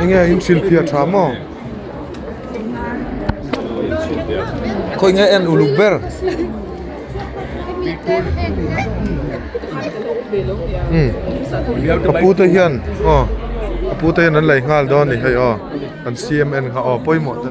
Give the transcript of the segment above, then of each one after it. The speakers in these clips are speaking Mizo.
Enge in thilphiah tha maw? Khawi nge en uluk ber? Umm ka pu te hian aw ka pu te hian an lei nghal dawn a ni hei aw an siam en kha aw pawimawh te.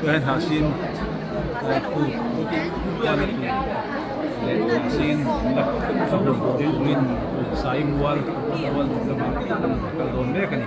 Tunah hnah sin leh khu kual a tui leh hnah sin lak a hun tur in awmin sai mual mual duh lamah a rawn kal dawn mek a ni.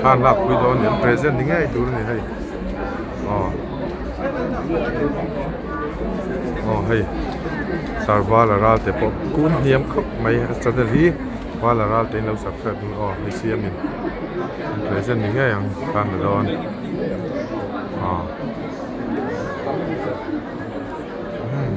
thlan lakpui dawn nen present ni ngei tur a ni hei aw. aw hei sir vala ral te pawh kun hniam khawp mai a channel hi vala ral te in lo sak chhuak aw hei hi siam in present ni ngei ang tan tawh dawn aw umm.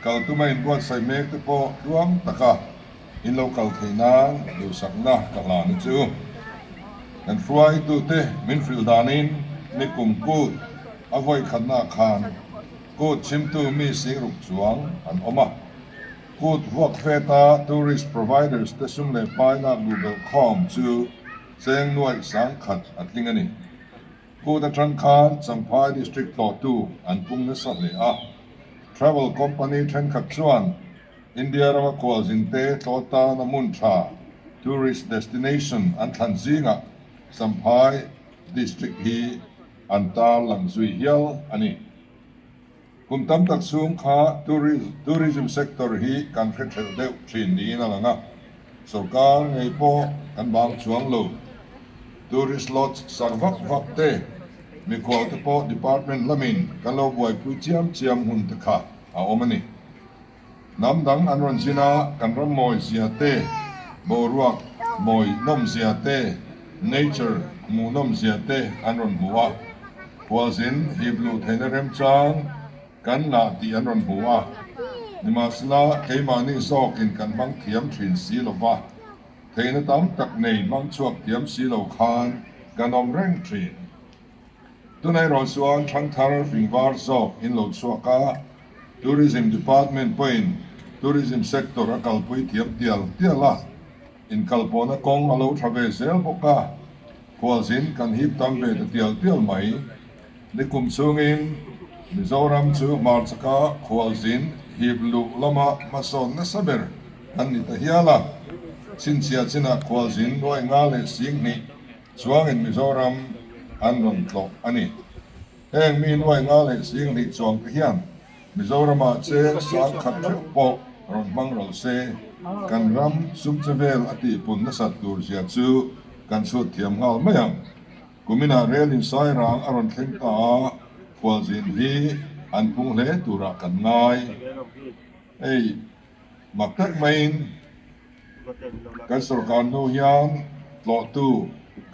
Kal tuma inbuatsaih mek te pawh tluang taka in lo kal thei nan duhsakna ka hlan hi chu kan hruaitute min hrilh danin mi kum kut a vawikhatnaah khan kut chimtu mi singruk chuang an awm a, kut vuakfeta tourist providers te sum leh hmainak duhbelh khawm chu cheng nuaih sangkhat a tling a ni. Court atang khan Champhai District tlawhtu an pung nasa hle a. Travel company thenkhat chuan India rama kualzin te tlaw tana hmun tha, tourist destination, an thlan zingah Champhai District hi an tarlang zui hial a ni. Kum tam tak chhung kha tourism sector hi kan hre thlelh deuh thin niin a lang a, sorkar ngei pawh kan bang chuang lo. Tourist lodge sak vak vak te, mikhual te pawh department lamin kan lo buaipui chiam chiam hmun te kha a awm a ni. Hnam dang an rawn zin a, kan rammawi zia te, boruak mawi nawm zia te, nature hmuh nawm zia te an rawn hmu a. Khualzin hip luh theihna remchang kan la tih an rawn hmu a. Nimahsela, keimahni zawkin kan hmang thiam thin si lo va, theihna tam tak nei hmang chhuak thiam si lo khan kan awm reng thin. Tunairawh chuan Thangthar Ringvar zawk in lo chhuak a, Tourism Department pawhin Tourism Sector a kalpui thiam tial tial a, inkalpawhna kawng a lo tha ve zel bawk a, khualzin kan hip tam ve ta tial tial mai. Nikum chungin Mizoram chu hmarchaka khualzin hip luh lama hmasawn nasa ber kan ni ta hial a, chhinchhia chinah khualzin nuainga leh singhnih Chuangin Mizoram an rawn tlawh a ni. Heng mi nuai nga leh sing hnih chuang te hian Mizorama che sang khat theuh pawh rawn hmang ral se, kan ram sumchhe vel a tihpun nasat tur zia chu kan chhut thiam nghal mai ang. Kuminah relin Sairang a rawn thleng ta a, khualzin hi an phung hle turah kan ngai. Ei. Mak tak maiin kan sorkar hnu hian tlawhtu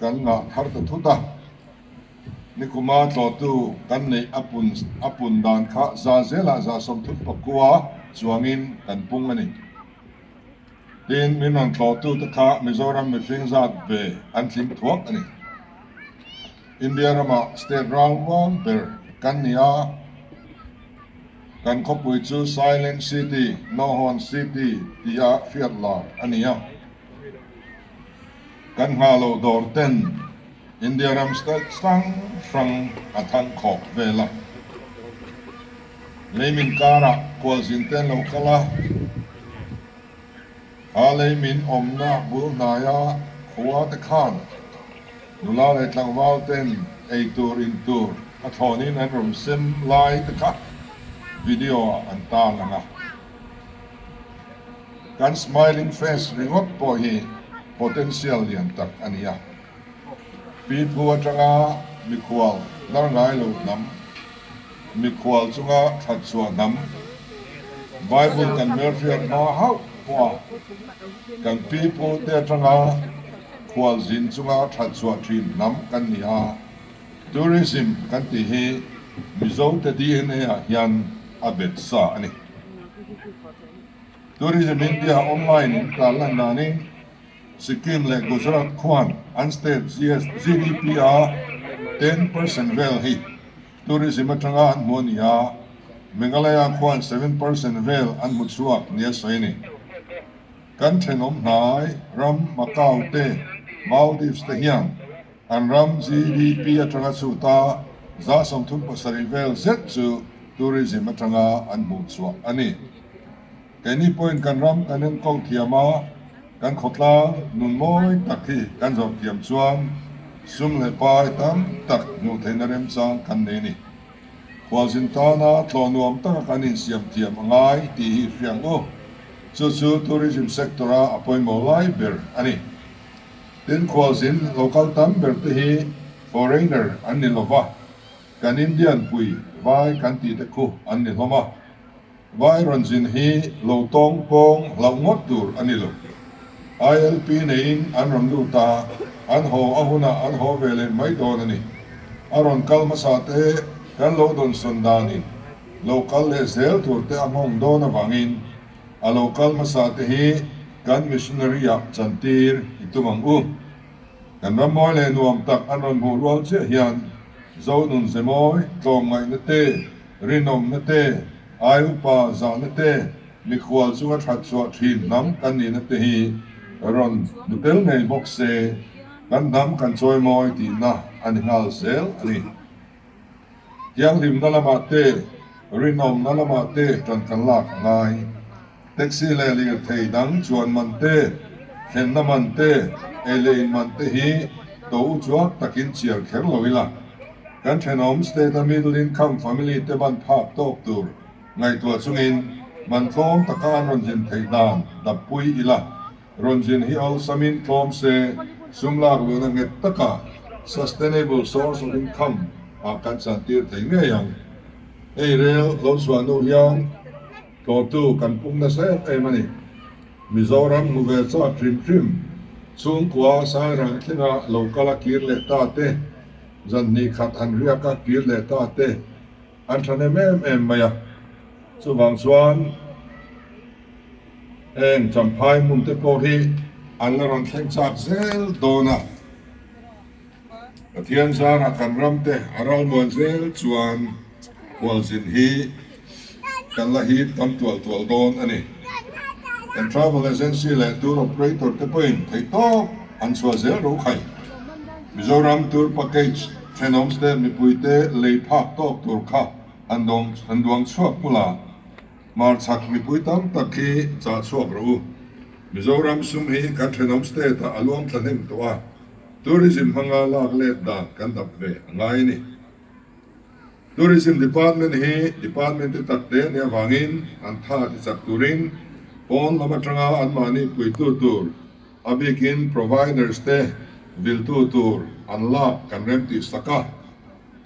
kan ngah thar ta thut a, nikuma tlawhtu kan neih a pun dan kha za zela za sawmthut pakua chuangin kan pung a ni. Tin, min rawn tlawhtu te kha Mizoram mihring zat ve an tling thuak a ni. India ramah state rauruang ber kan ni a. kan khawpui chu Silent City, Hlawhhawn City, tih a hriat lai a ni a. Kan hna lo dawr ten India ram style hrang hrang a thang khawp vel a. Leimin karah kualzin te an lo kal a. A lei min awmna bul hnaia khuate khan nula leh tlangvalte'n eitur intur a thlawnin an rawn sem lai te kha video-ah an tarlang a. Kan smiling face ringawt pawh hi potential lian tak a ni a. Pipu atanga mikhual dar ngai lo hnam, mikhual chunga thatchua hnam, Bible kan melhriat hma hauh hma, kan pipu te atanga khual zin chunga thatchua thin hnam kan ni a. Tourism kan tih hi Mizo te DNA ah hian a bet sa a ni. Tourism India online in tlan lan dan in, Sikkim leh Gujarat khuan an state GDP-a ten percent vel hi tourism atanga an hmu a ni a, Meghalaya khuan seven percent vel an hmu chhuak nia sawi a ni. Kan thenawm hnai ram Macau te Maldives te hian An ram GDP atanga chuh ta zah sawmthum pasarih vel zet chu Tourism atanga an hmuh chhuah a ni. Keini pawhin kan ram kan en ko thiam a, kan khawtlang nun mawi tak hi kan zawrh thiam chuan sum leh pai tam tak hmuh theihna remchang kan nei a ni. Khualzin tana tlaw nuam taka kan insiam thiam a ngai tih hi hriang u, chu chu Tourism sector-a a pawimawh lai ber a ni. Tin, khualzin local tam ber te hi foreigner an ni lova, kan Indian pui vai kan tih te khu an ni hlawm a, vai rawn zin hi lo tawng pawng hlauh ngawt tur a ni lo. ILP neiin an rawn lut a, an haw a hunah an haw ve leh mai dawn a ni. A rawn kal hmasa te kan lo dawnsawn danin lo kal leh zel tur te a nghawng dawn avangin, A lo kal hmasa te hi kan missionary ah chan tir i tum ang u. Kan rammawi leh nuam tak an rawn hmuh rual chiah hian zonun ze mawi, tlawm ngaihna te, rinawmna te, ai upa zahna te, mikhual chunga thatchhuah thin hnam kan nihna te hi rawn hmu tel ngei bawk se, kan hnam kan chawi mawi tihna a ni nghal zel a ni. Thianghlimna lamah te, rinawmna lamah te tankan lak a ngai. Taxi leh lirthei dang chuan man te, thlenna man te, ei leh in man te hi tawh u chuak takin chiar kher lo ila, kan thenawm state-a middle income family te ban phak tawk tur ngaihtuah chungin man tlawm taka an rawn zin theih dan dappui ila Ronzin hi awlsam in tlawm se, sum lak luhna nghet taka Sustainable Source of Income ah kan chhan tir thei ngei ang. Hei rel lo chhuah nu hian tlawtu kan pum nasa em em a ni. Mizoram hmu ve chak hrim hrim, chhungkua Sairang thlenga lo kal a kir leh ta te, zanhnih khat han riak a kir leh ta te, An than em em em mai a, chuvang chuan heng Champhai hmun te pawh hi an la rawn thleng chak zel dawn a. Pathian zara kan ram te a ralmuan zel chuan hualzin hi kan la hip tam tual tual dawn a ni. Kan travel agency leh tour operator te pawhin thei tawp an chhuah zel rokhai. Mizoram Tour Package thenawms te mipuite lei phak tawk tur kha han han duang chhuak pula hmarchhak mipui tam tak khi chah chhuak rawh u. Mizoram sum hi kan thenawm state ah a luang thlahnem tawh a, tourism hmanga lak let dan kan dap ve a ngai a ni. Tourism department hi department te tak te nih avangin an tha ti chak turin pawn lam atanga anmahni puitu tur, A bikin providers te viltu tur an lak kan rem tih sak a,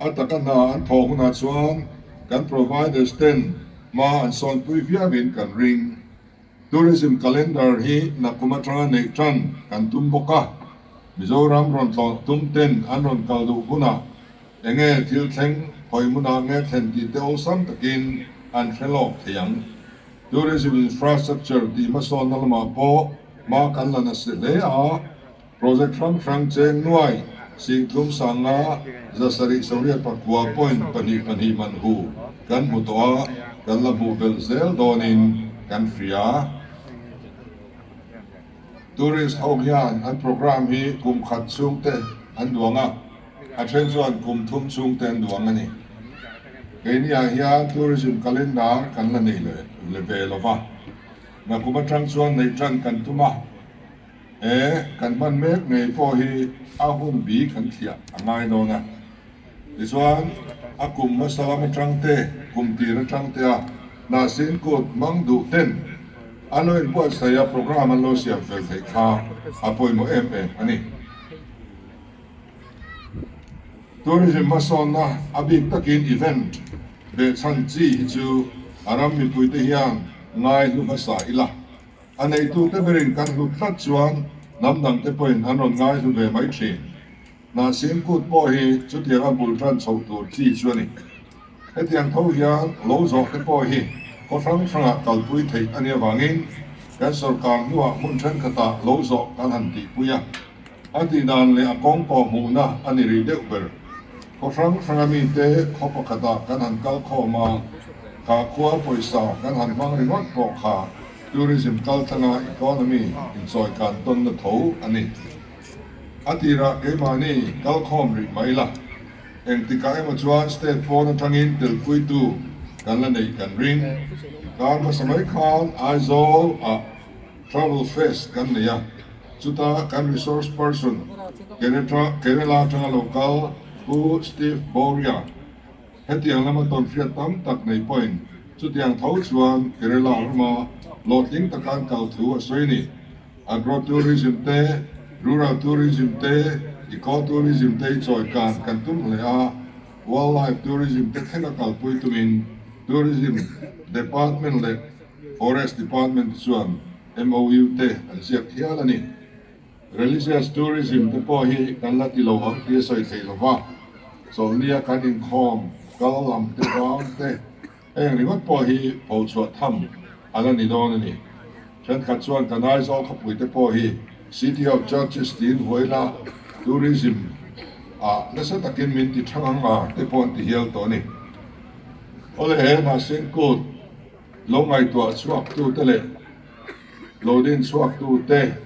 a taka hna an thaw hunah chuan kan providers ten hma an sawnpui viauvin kan ring. Tourism calendar hi nakum atanga neih tan kan tum bawk a, Mizoram rawn tlawh tum ten an rawn kal duh hunah enge thil thleng Khawimuna nge thlen tih te awlsam takin an hre lawk thei ang. Tourism infrastructure tih hmasawnna lamah pawh, Mah kan la nasa hle a, Project hrang hrang cheng nuai, Singtlum Sanga, Zasarih Soriat Pakua Point pahnih pahnih manhu kan hmu tawh a, kan la hmuh belh zel dawnin kan hria. Tourist ho hian an programme hi kum khat chhungte an duang a, a then chuan kum thum chhungte an duang a ni. Keini ah hian Tourism Calendar kan la nei leh ve lova. Rakum atang chuan nei tan kan tum a, e kan hman mek ngei pawh hi a hun bi kan thliah a ngai dawn a. Tichuan a kum hmasa lam atang te, kum tir atang te a hnahsin kut mang duh ten a lo in buatsaih a, program an lo siam fel theih kha a pawimawh em em a ni. Tourism hmasawnna a bik takin event beh chhan chi hi chu a ram mipuite hian ngai hlu hmasa ila. A neitute berin kan hlut hlat chuan hnam dangte pawhin an rawn ngai hlu ve mai thin. Hnahsin kut pawh hi chutianga bul tan chhoh tur chi chu a ni. Hetiang tho hian lo zawh te pawh hi khaw hrang hrangah kalpui theih a ni avangin kan sawrkar hnuah hmun thenkhatah lo zawh kan han tihpui a. A tihdan leh a kawng pawh hmuhna a ni rih deuh ber. Khaw hrang hranga mite khaw pakhatah kan han kal khawm a, khahkhua pawisa kan han hmang ringawt pawh kha tourism kaltanga economy inchawihkan tawnna tho a ni. A tirah keimahni kal khawm rih mai la. Engtikah emaw chuan state phone athangin telpuitu kan la neih kan ring. Karmasa mai khan Aizawl a Travel Fest kan nei a, chuta kan resource person Kerala atanga lo kal Pu Steve Bouria hetiang lama tawnhriat tam tak nei pawhin chutiang tho chuan Kerala rama lawtling taka an kal thu a sawi a ni. Agro-tourism te, Rural Tourism te, Eco-Tourism te i chawikan kan tum hle a, Wildlife Tourism te thleng a kalpui tumin Tourism Department leh Forest Department te chuan MOU te an ziak hial a ni. Religious Tourism te pawh hi kan la ti lo ang tih a sawi thei lo va, Chawlhnia kan inkhawm kal lam te vang te, Heng ringawt pawh hi pho chhuah tham a la ni dawn a ni. Thenkhat chuan kan Aizawl khawpui te pawh hi City of Churches tiin huaina Tourism ah nasa takin min ti thang ang a te pawh an ti hial tawh a ni. Awle he mahse kut lo ngaihtuah chhuak tute leh lo din chhuak tute,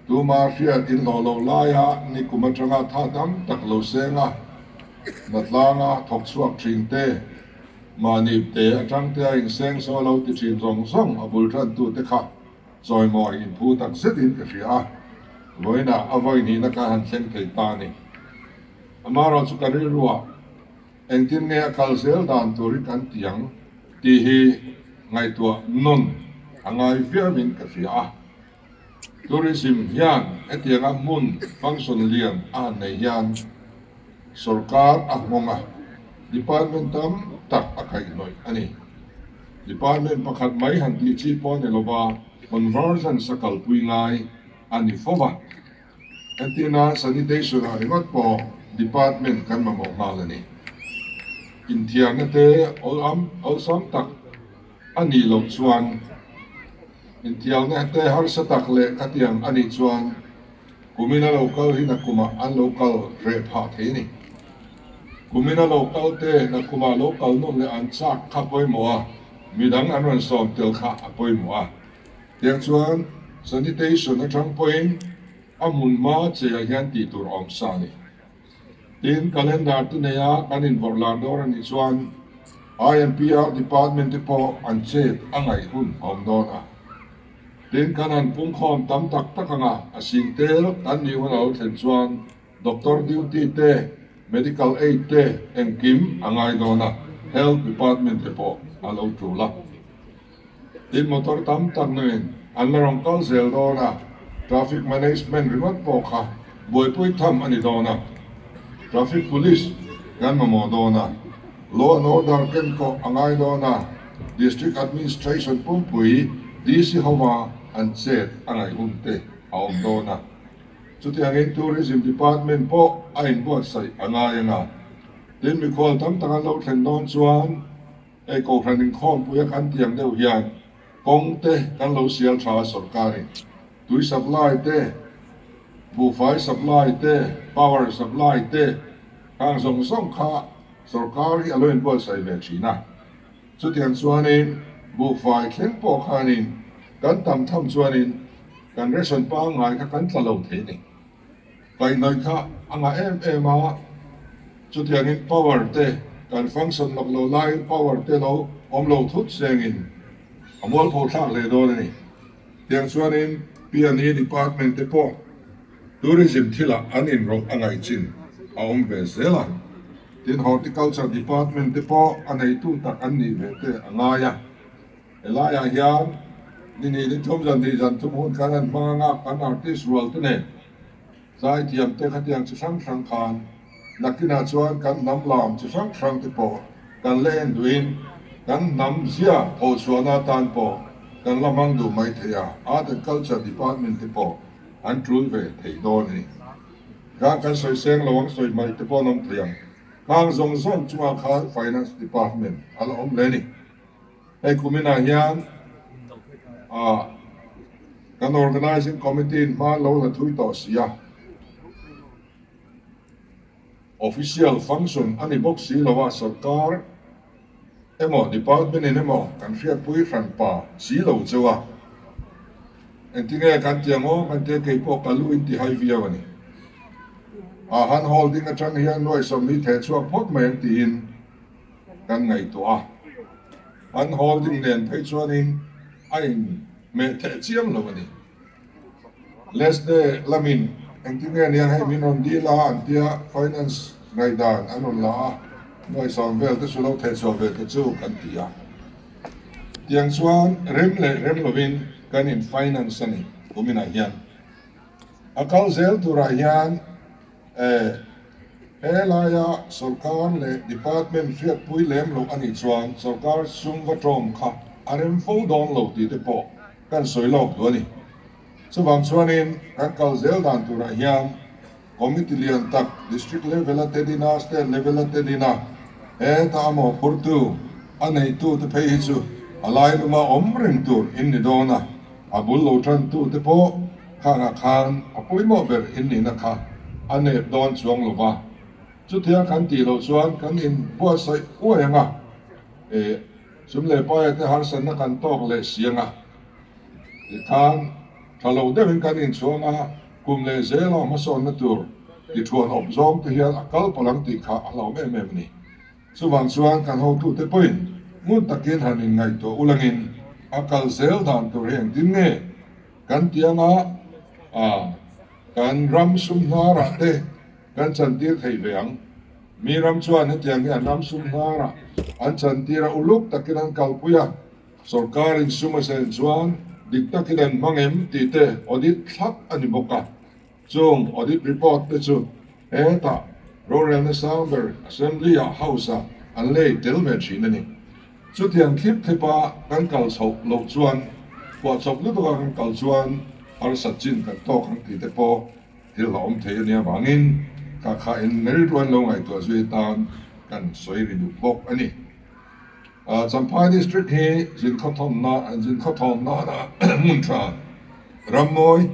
Tuma hriat in hlawh loh laia nikum atanga tha tam tak lo seng a, hna tlanga thawk chhuak thin te, mahni te atang te a inseng saw lo ti thin zawng zawng a bul tantu te kha chawimaw a inphu tak zet in ka hria a, vawiina a vawi hnihna kha han thleng thei ta ni. Amaherawh chu ka rilru a, engtin nge a kal zel dan tur i kan ti ang tih hi ngaihtuah nawn a ngai viau in ka hria a. Tourism hian hetiang a hmun function lian a han nei hian sorkar a nghawng a, department tam tak a kaihnawih a ni. Department pakhat mai han tih chi pawh a ni lova convergence a kalpui ngai a ni fo va. Entina sanitation ah ringawt pawh department kan mamawh nghal a ni. Inthiarna te awlsam tak. A nih loh chuan intial nge te harsa tak leh ka tiang anih chuan kumin a lo kal hi na kumah an lo kal reh phah thei ni? Kumin a lo kal te na kumah lo kal nawm leh an chak kha pawimawh a, midang an rawn sawm tel kha a pawimawh a. Tiah chuan sanitation atang pawhin a hmun hma cheiah hian tih tur a awm sa a ni. Tin, calendar te neia kan invarlar dâwr a nih chuan IMPR department te pawh an chet a ngaih hun awm dawn a. Tin, kan han pungkhawm tam tak tak anga a sîng têl kan nih hun a lo thlen chuan doctor duty te, medical aid te engkim a ngai dawn a, health department te pawh a lo tul a. Tin, motor tam tak nen an la rawn kal zel dawn a, Traffic Management ringawt pawh kha buaipui tham a ni dawn a, Traffic Police kan mamawh dawn a, Law and Order kenkaw a ngai dawn a, District Administration pumpui, DC hova an chet a ngaihun te a awm dawn a, chutiangin Tourism Department pawh a inbuatsaih a ngai anga, tin mikhual tam tak an lo thlen dawn chuan, Hei Kohhran inkhawmpui a kan tih ang deuh hian kawng te kan lo sial tha a sorkar in tui supply te, buhfai supply te, power supply te kha ang zawng zawng kha sorkar hi a lo in buaisai ve thin a. Chutiang chuan in buhfai thleng pawh khan in kan tam tham chuan in kan ration pangngai kha kan tla lo thei a ni. Tainai kha a ngah em em a, chutiangin power te kan function lawk lo laiin power te lo awm lo thut sengin a mual pho thlak leh dawn a ni. Tiang chuanin Piani Department te pawh Tourism thilah an inrawlh a ngaih chin a awm ve zel a, tin Horticulture Department te pawh a neitu tak an nih ve te a ngai a. Helaiah hian ni nih ni tlawm zan nih zan thum hun khan an hmang a, an artist rual te nen. Tlaikiam te khatiang chi hrang hrang khan nakinah chuan kan hnam lam chi hrang hrang te pawh kan la en duhin kan hnam zia tho chhuahna atan pawh kan la hmang duh mai thei a, Art and Culture Department te pawh an tul ve thei dawn a ni. Zan kan sawi seng lo ang sawi hmai te pawh an awm thei ang. Khang zawng zawng chungah khan Finance Department a la awm hle a ni. Hei kuminah hian kan Organising Committee in hma lo la thui tawh si a, Official function a ni bawk si lo a, Sorkar emaw Department in emaw kan hriatpui hran pa si lo cheu a, engti nge kan ti ang aw hmante kei pawh ka lu in ti hai viau a ni. A han hawl ding atang hian nuaihsawm hi theh chhuak phawt mai ang tiin Kan ngaihtuah a, an hawl ding nen phei chuanin a in meh theh chiam lo a ni. Leste lamin engtin nge nia hei min rawn dil a an tia finance ngaihdan an rawn la a, nuaisam vel te chu lo theh chhuah ve ta chu kan ti a. Tiang chuan rem leh rem lovin kan in finance a ni kuminah hian. A kal zel turah hian Eh. Helaia sorkar leh department hriatpui lem loh a nih chuan sorkar sum va tawm kha a rem fo dawn lo tih te pawh kan sawi lawk duh a ni. Chuvang chuanin kan kal zel dan turah hian committee lian tak district level a tel ina state level a tel ina heta amaw phurtu a neitu te phei hi chu a lai luma awm reng tur in ni dawn a, a bul lo tantu te pawh. Khangah khan a pawimawh ber innihna kha a nep dawn chuang lo va, chutiang kan tih loh chuan kan inbuatsaih uai ang a, eh, Chum leh Paia te harsatna kan tawk leh si ang a tih khan tha lo deuhin kan inchhuang a, kum leh zel a hmasawnna tur tiṭhuan awp zawng te hian a kal palh ang tih kha a hlauh em em a ni. Chuvang chuan kan hotute pawhin hmun takin han inngaihtuah ulangin a kal zel dan tur hi engtin nge kan tih anga kan ram sum hnarah te kan chantir thei ve ang. Miram chuan hetiang hian ram sum hnarah an chantir a uluk takin an kalpui a, sorkar insuma zen chuan dik takin an hmang em tih te audit thlak a ni bawk a. Chung audit report te chu heta rorelna sang ber Assembly ah, House ah, an lei tel ve thin a ni. Chutiang thlip thlip a kan kal chho loh chuan kuah chawp lutuk a kan kal chuan harsat chin kan tawk ang tih te pawh thil a awm thei a nia vangin kha khain merit ruain lo ngaihtuah zui atan kan sawi ri duh bawk a ni. Champhai District hi Zinkho thawm nana hmun tha. Rammawi,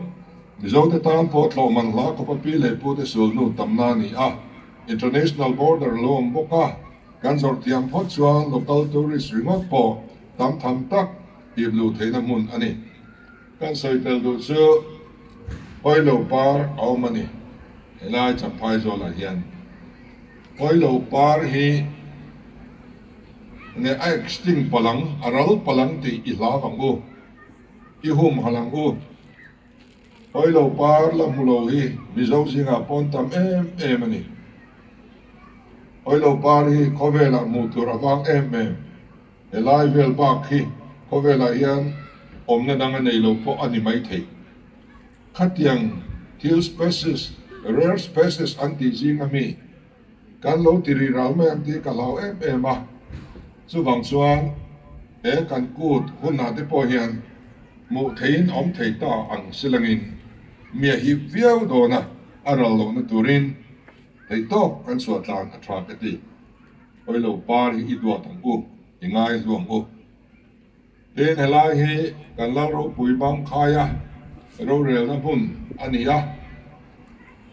Mizote tan pawh thlawhman hla khupapi leh pute sulnu tamna a ni a. International border a lo awm bawk a, kan zawrh thiam phawt chuan local tourist ringawt pawh tam tham tak tih luh theihna hmun a ni. Kan sawi tel duh chu hawi lo par a awm a ni. Helai Champhai zawl ah hian hawi lo par hi. Next ting palang a ral palang tih i hlam ang u, i hum hal ang u. Hawilo par la hmu lo hi Mizo zingah pawn tam em em a ni. Hawilo par hi khawvelah hmuh tur a vang em em. He lai vel bak hi khawvelah hian awmna dang a nei lo pawh a ni mai thei. Khatiang thil species, rare species an tih zing a mi. Kan lo ti rih rau mai ang tih ka hlau em em a, chuvang chuan he kan kut hunah te pawh hian hmuh theihin awm thei ta ang silangin mi a hip viau dawna a ral lohna turin hleitawk kan chhuah tlan a tha ka ti. Awilo par hi i duat ang u, i ngai hluang u. Tin, helai hi kan Lalropui Bangkhaia rorelna hmun a ni a,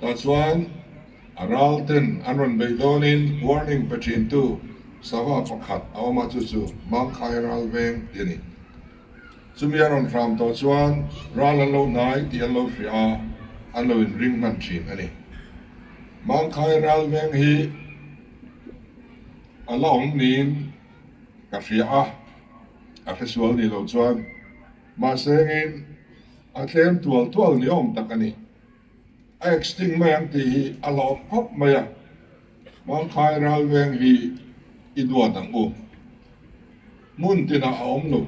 tah chuan ralten an rawn beih dawnin warning pe thintu sava pakhat a awm a, chu chu Bangkhai Ralveng tih a ni. Chumi a rawn hram tawh chuan ral an lo hnai tih an lo hria a, an lo inring hman thin a ni. Bangkhai Ralveng hi a la awm niin, ka fiah a, a hre sual ni lo chuan. Mahse hengin a tlem tual tual ni awm tak a ni. A extinct mai ang tih hi a la awp khawp mai a, Hmangkhai ralveng hi i duat ang u. Hmun tinah a awm lo.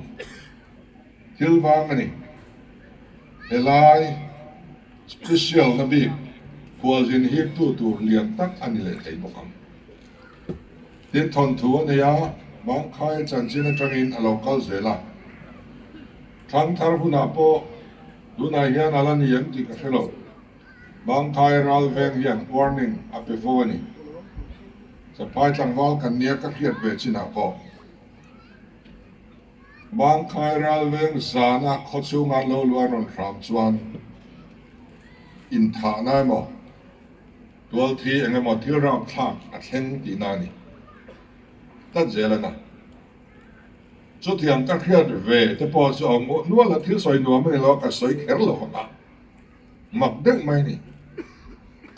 Thil vang a ni. Helai special na bik khualzin hik tu tur lian tak a ni leh thei bawk ang. Tin thawnthu a nei a, Mangkhai chanchin atangin a lo kal zel a. Thlang thar hunah pawh tunah hian a la ni ang tih ka hre lo. Mangkhai ral veng hian warning a pe fo a ni. Chaphai tlangval kan nia ka hriat ve chinah pawh. Mangkhai ral veng zana khaw chhunga an lo luan rawn hram chuan inthahna emaw, Tualthi engemaw thil rau thlak a thleng tihna ni tlat zel a na. Chutiang ka hriat ve te pawh chu a awm ngawh nual a, thil sawi nuam a ni lo a, ka sawi kher lo a, mak deuh mai a ni.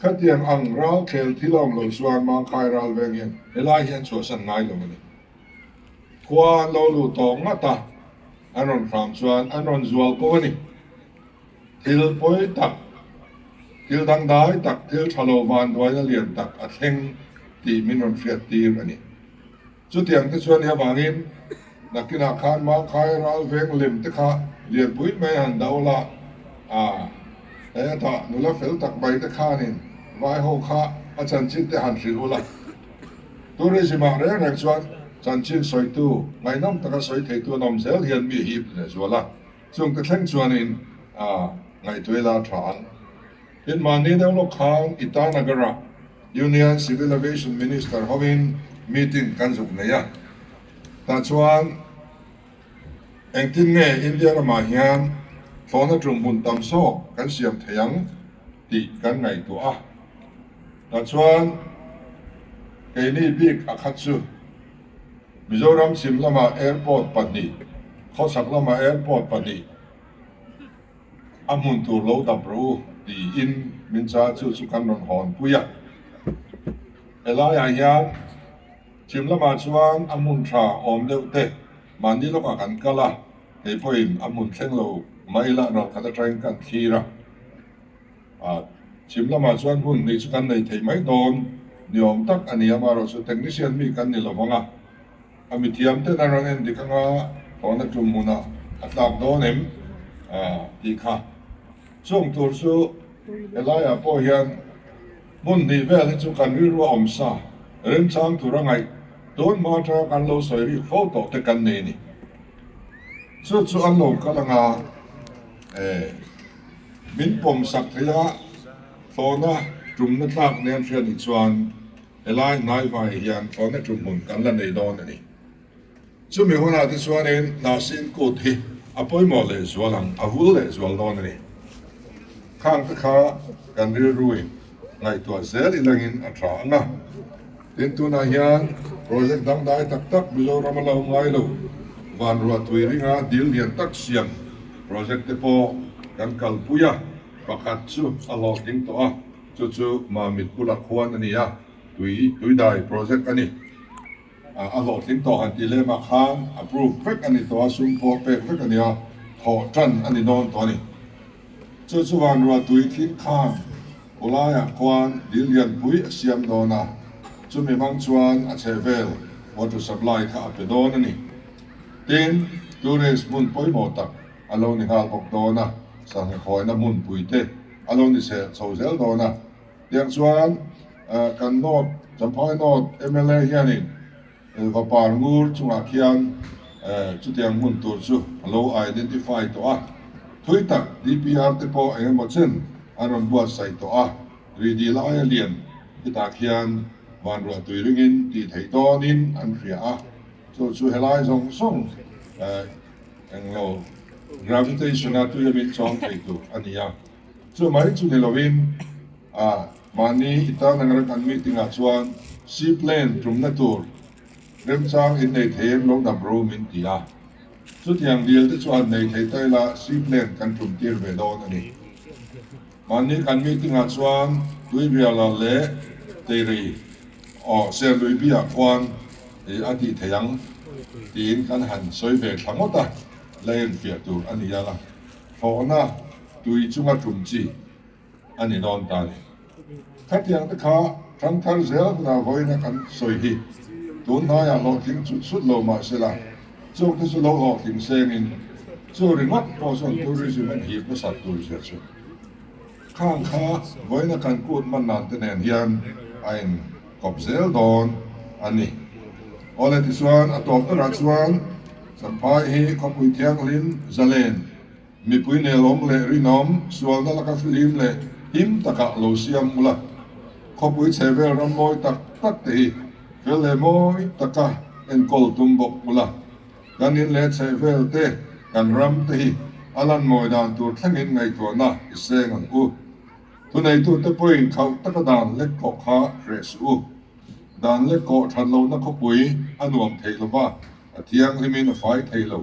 Khatiang ang rau thlel thil a awm lo chuan Mangkhai ral veng hian helai hian chhuahsan ngai lo a ni. Khua an lo lu tawh ngat a, an rawn hram chuan an rawn zual ko a ni. Thil pawi tak, thil dangdai tak, thil tha lo vanduaina lian tak a thleng tih min rawn hriattir a ni. Chutiang te chuan ni avangin nakinah khan Mangkhai ral veng lem te kha lianpui mai a han do la, a hetah nula fel tak mai te khanin vaiho kha a chanchin te han hrilh u la. Tourism ah reng reng chuan chanchin sawitu, ngaihnawm taka sawi theitu an awm zel hian mi hi i hrilh leh zual a, Chuan ka thleng chuan in a ngaihtuai la tha ang. Tin mahni deuh lawk khan Itanagar ah Union Civil Aviation Minister ho in meeting kan zuk nei a. Tah chuan engtin nge India ramah hian thlawhna tum hmun tam sawk kan siam thei ang tih kan ngaihtuah a. Tah chuan keini bik a khat chu. Mizoram chim lama airport pahnih, khawchhak lama airport pahnih a hmun tur lo dap rawh u tiin min char chu chu kan rawn hawn pui a. Helaiah hian chim lamah chuan a hmun tha awm deuh te mahni lawkah kan kal a, kei pawhin a hmun thleng lo mai lah rawh khat atangin kan thlir a. A chhim lamah chuan hun hnih chu kan nei thei mai dawn ni awm tak a ni a, amaherawh chu technician mi kan ni lo vang a, a mithiam ten a rawn en dik ang a, phone a tum hunah a tlak dawn em? tih kha chhung tur chu helaiah pawh hian hun hnih vel hi chu kan rilru a awm sa remchang tur a ngaih tun hma atanga kan lo sawi rih fo tawh te kan nei a ni. Chu chu an lo kal ang a, e. Min pawm sak thei a, thlawna tumna tlak nen hria nih chuan helai hnaivai hian thlawna tum hun kan la nei dawn a ni. Chumi hunah te chuanin hna sin kut hi a pawimawh leh zual ang, a vul leh zual dawn a ni. Khangte kha kan rilruin ngaihtuah zel i langin a tla ang a. Tin, tunah hian project dangdai tak tak Mizoram-a la awm ngai lo. Vanruah tui ringa dil lian tak siam project te pawh kan kalpui a, pakhat chu a hlawh ding tawh a, chu chu Mamit Pula Khuan a ni a, tui tuidai project a ni. A hlawh tling tawh han tih lem ah khan approve vek a ni tawh a, sum pawh pek vek a ni a, thawh tan a ni dawn tawh a ni. Chu chuan Ruatui thil khang Awlaiah khuan dil lianpui a siam dawn a, chumi hmang chuan a chhehvel water supply kha a pe dawn a ni. Tin, tourist hmun pawimawh tak a lo ni nghal bawk dawn a, sangha khuaina hmun pui te a lo ni seh chho zel dawn a. Tiang chuan kan North, Champhai North mla hianin, Elva par ngur chungah khian chutiang hmun tur chu a lo identify tawh a, thui tak DPR te pawh eng emaw chen an rawn buatsaih tawh a, ri dih lai a lian khitah khian vanruahtui ringin tih theih dawnin an hria a, chu chu helai zawng zawng englo gravitation-a tuiamin chuang thei tur a ni a, chumai chu ni lovin. A mahni i tan reng reng an meeting ah chuan Sea Plane tumna tur remchang in nei thei em lo dam ro min ti a. Chutiang deal te chuan nei thei ta ila Sea Plane kan tum tir ve dawn a ni. Mahni kan meeting ah chuan Tuibiala leh Teiri aw Serluibia khuan ih a tih thei ang tiin kan han sawi ve thla ngawt a, la en fiah tur a ni a la. Hlawhna tui chunga tum chi. a ni dawn ta le khatiang te kha tangkar zel huna vawiina kan sawi hi tun hnaiah hlawhtling chut chut lo mah se la chung te chu lo hlawhtling seng in chu ringawt pawh chuan tourism an hip nasat tur zia chu khang kha vawiina kan kut man nan te nen hian a in kawp zel dawn a ni awle tichuan a tawp berah chuan Champhai hi khawpui thianghlim Zalen Mipui nelawm leh rinawm sualna laka flim leh him taka lo siam ngul a, khawpui chhehvel ram mawi tak tak te hi fel leh mawi taka enkawl tum bawk ngul a, kan in leh chhehvel te, kan ram te hi a lan mawi dan tur thlengin ngaihtuahna i seng ang u. Thuneitute pawhin khauh taka dan lek kawh kha hreh suh u. Dan lek kawh thatlohna khawpui a nuam thei lova, a thianghlimin a fai thei lo.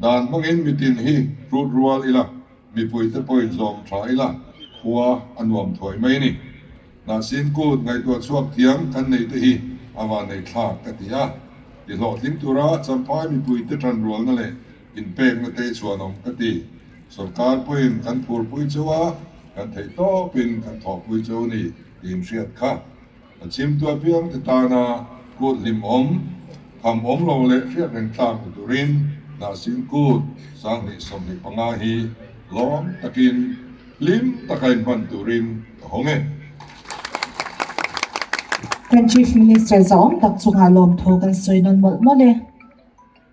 Dan hmangin mitin hi hrut rual ila, mipuite pawhin zawm tha ila khua a nuam thuai mai a ni. Mahsin kut ngaihtuah chhuak thiam kan neite hi a vanei thlak ka ti a, ti hlawhtling tura Champhai mipuite tan rualna leh inpekna te chhuanawm ka ti. Sorkar pawhin kan phurpui chauh a, kan theih tawpin kan thawhpui chauh a ni, tiin hriat kha. A chimtu apiang te tana kut hlim awm, kham awm lo leh hriat reng tlak ni turin nahsin kut sang hnih sawmhnih panga hi lawm takin hlim taka inhman turin ka hawng e. Kan Chief Minister zawng tak chungah lawmthu kan sawi nawn mawlh mawlh e.